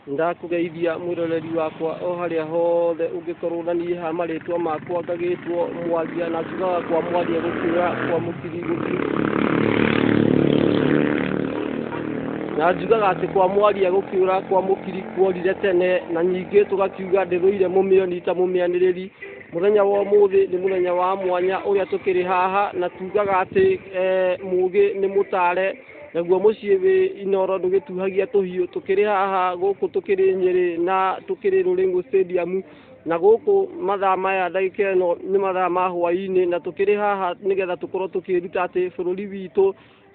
Nĩndakũgeithia mwĩroreri wakwa o harĩa hothe ũngĩkorwo na niĩ ha marĩtwa makwa ngagĩtwo mwaria na njugaga kwa mwaria gũkĩra kwa mũkiri gũkĩra na njugaga atĩ kwa mwaria gũkĩũra kwa mũkiri kuorire tene na nyingĩ tũgakiuga ndĩrũire mũmĩoni ta mũmĩanĩrĩri mũthenya wa ũmũthĩ nĩ mũthenya wa mwanya ũrĩa tũkĩrĩ haha na tugaga atĩ eh, mũgĩ nĩ mũtare Naguo mũciĩ wĩ Inoro ndũgĩtuhagia tũhiũ, tũkĩrĩ haha gũkũ tũkĩrĩ Nyĩrĩ na tũkĩrĩ Rũrĩng'u Stadium, na gũkũ mathaa maya ndagĩka ĩno nĩ mathaa ma hwaĩ-inĩ, na tũkĩrĩ haha nĩgetha tũkorwo tũkĩĩruta atĩ bũrũri witũ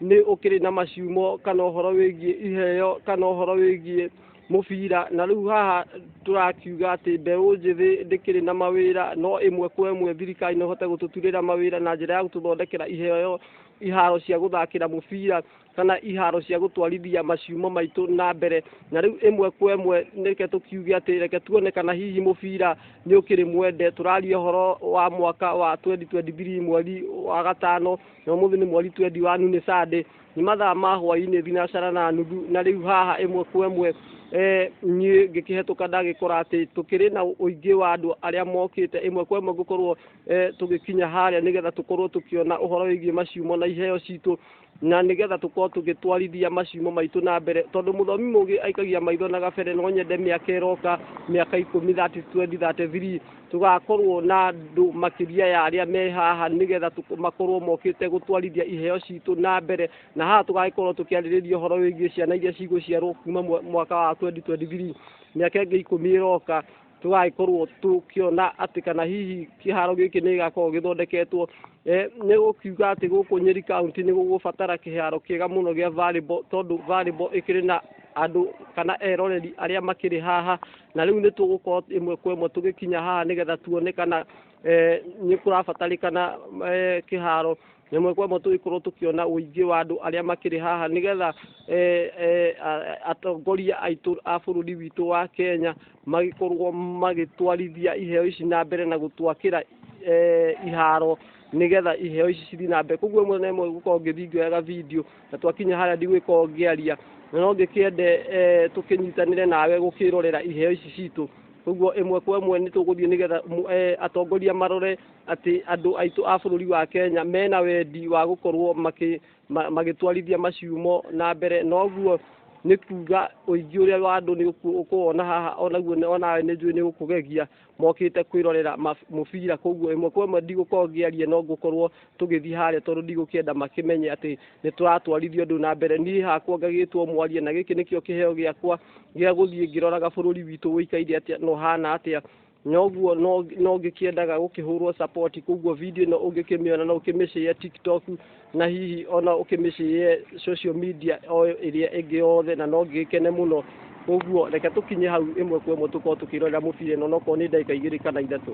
nĩ ũkĩrĩ na maciumo kana ũhoro wĩgiĩ iheo kana ũhoro wĩgiĩ mũbira, na rĩu haha tũrakiuga atĩ mbeũ njĩthĩ ndĩkĩrĩ na mawĩra, no ĩmwe kwa ĩmwe thirikari no ĩhote gũtũturĩra mawĩra na njĩra ya gũtũthondekera iheo. iharo cia gũthakĩra mũbira kana iharo cia gũtwarithia maciumo maitũ na mbere na rĩu ĩmwe kwa ĩmwe nĩke tũkiuge atĩ reke tuone kana hihi mũbira nĩ ũkĩrĩ mwende tũraria ũhoro wa mwaka wa 2023 mweri wa gatano na ũmũthĩ nĩ mweri 21 nĩ sande nĩ mathaa ma hwainĩ thinacara na nuthu na rĩu haha ĩmwe kwa ĩmwe eh, niĩ ngĩkĩhetũka ndagĩkora atĩ tũkĩrĩ na ũingĩ wa andũ arĩa mokĩte ĩmwe kwa ĩmwe ngũkorwo eh, tũgĩkinya harĩa nĩgetha tũkorwo tũkĩona ũhoro wĩgiĩ maciumo na iheo citũ na nĩgetha tũkorwo tũgĩtwarithia maciumo maitũ na mbere tondũ mũthomi mũgĩ aikagia maitho na gabere no nyende mĩaka ĩroka mĩaka ikũmi 30, 20, 33 tũgakorwo na andũ makĩria ya arĩa me haha nĩgetha tũk- makorwo mokĩte gũtwarithia iheo citũ na mbere na haha tũgagĩkorwo tũkĩarĩrĩria ũhoro wĩgiĩ ciana iria cigũciarwo kuma mwa- mwaka wa 2023 mĩaka ĩngĩ ikũmi ĩroka tũgagĩkorwo tũkĩona atĩ kana hihi kĩharo gĩkĩ nĩ gĩgakorwo gĩthondeketwo eh, nĩ gũkiuga atĩ gũkũ nyeri kaunti nĩ gũgũbatara kĩharo kĩega mũno gĩa volleyball tondũ volleyball ĩkĩrĩ na andũ kana eroreri arĩa makĩrĩ haha na rĩu nĩ tũgũkorwo ĩmwe kwa ĩmwe tũgĩkinya haha nĩgetha tuone kana eh, nĩ kũrabatarĩkana eh, kĩharo ĩmwe kwa ĩmwe tũgĩkorwo tũkĩona ũingĩ wa andũ arĩa makĩrĩ haha nĩgetha eh, eh, a- a- atongoria aitũ a bũrũri witũ wa kenya magĩkorwo magĩtwarithia iheo ici na mbere na gũtwakĩra eh, iharo nigetha iheo ici cithiĩ na mbere koguo ĩmwe na ĩmwe gũkorwo ngĩthingoyaga video na twakinya harĩa ndigwĩkorwo ngĩaria na no ngĩkĩende eh, tũkĩnyitanĩre nawe gũkĩrorera iheo ici citũ koguo ĩmwe kwa ĩmwe nĩ tũgũthiĩ nĩgetha mu- eh, atongoria marore atĩ andũ aitũ a bũrũri wa kenya mena wendi wa gũkorwo makĩ- ma- magĩtwarithia maciumo na mbere noguo nĩ kuga ũingĩ ũrĩa wa andũ nĩ ũku- ũkũwona haha onaguo nĩ- onawe nĩ njũĩ nĩ gũkũgegia mokĩte kwĩrorera ma- mũbira koguo ĩmwe kwa ĩmwe ndigũkorwo ngĩaria no ngũkorwo tũgĩthiĩ harĩa tondũ ndigũkĩenda makĩmenye atĩ nĩ tũratwarithia ũndũ na mbere niĩ hakwa ngagĩtwo mwaria na gĩkĩ nĩkĩo kĩheo gĩakwa gĩa gũthiĩ ngĩroraga bũrũri witũ ũikaire atĩa na ũhana atĩa noguo no no ngĩkĩendaga gũkĩhũrwo support koguo video ĩno ũngĩkĩmĩona no ũkĩmĩcĩe tiktok na hihi ona ũkĩmĩcĩe social media o ĩrĩa ĩngĩ yothe na no ngĩgĩkene mũno koguo reke tũkinye hau ĩmwe kwa ĩmwe tũkorwo tũkĩrorera mũbira ĩno nokorwo nĩ ndagĩka igĩrĩ kana ithatũ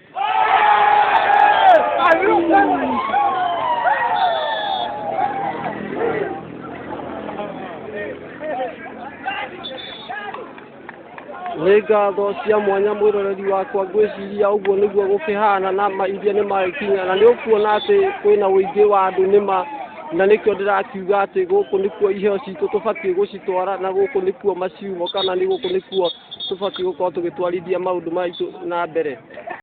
nĩ ngatho cia mwanya mwĩroreri wakwa ngwĩciria ũguo nĩguo gũkĩhana na ma iria nĩ magĩkinya na nĩ ũkuona atĩ kwĩna ũingĩ wa andũ nĩ ma na nĩkĩo ndĩrakiuga atĩ gũkũ nĩkuo iheo citũ tũbatiĩ gũcitwara na gũkũ nĩkuo maciumo kana nĩ gũkũ nĩkuo tũbatiĩ gũkorwo tũgĩtwarithia maũndũ maitũ na mbere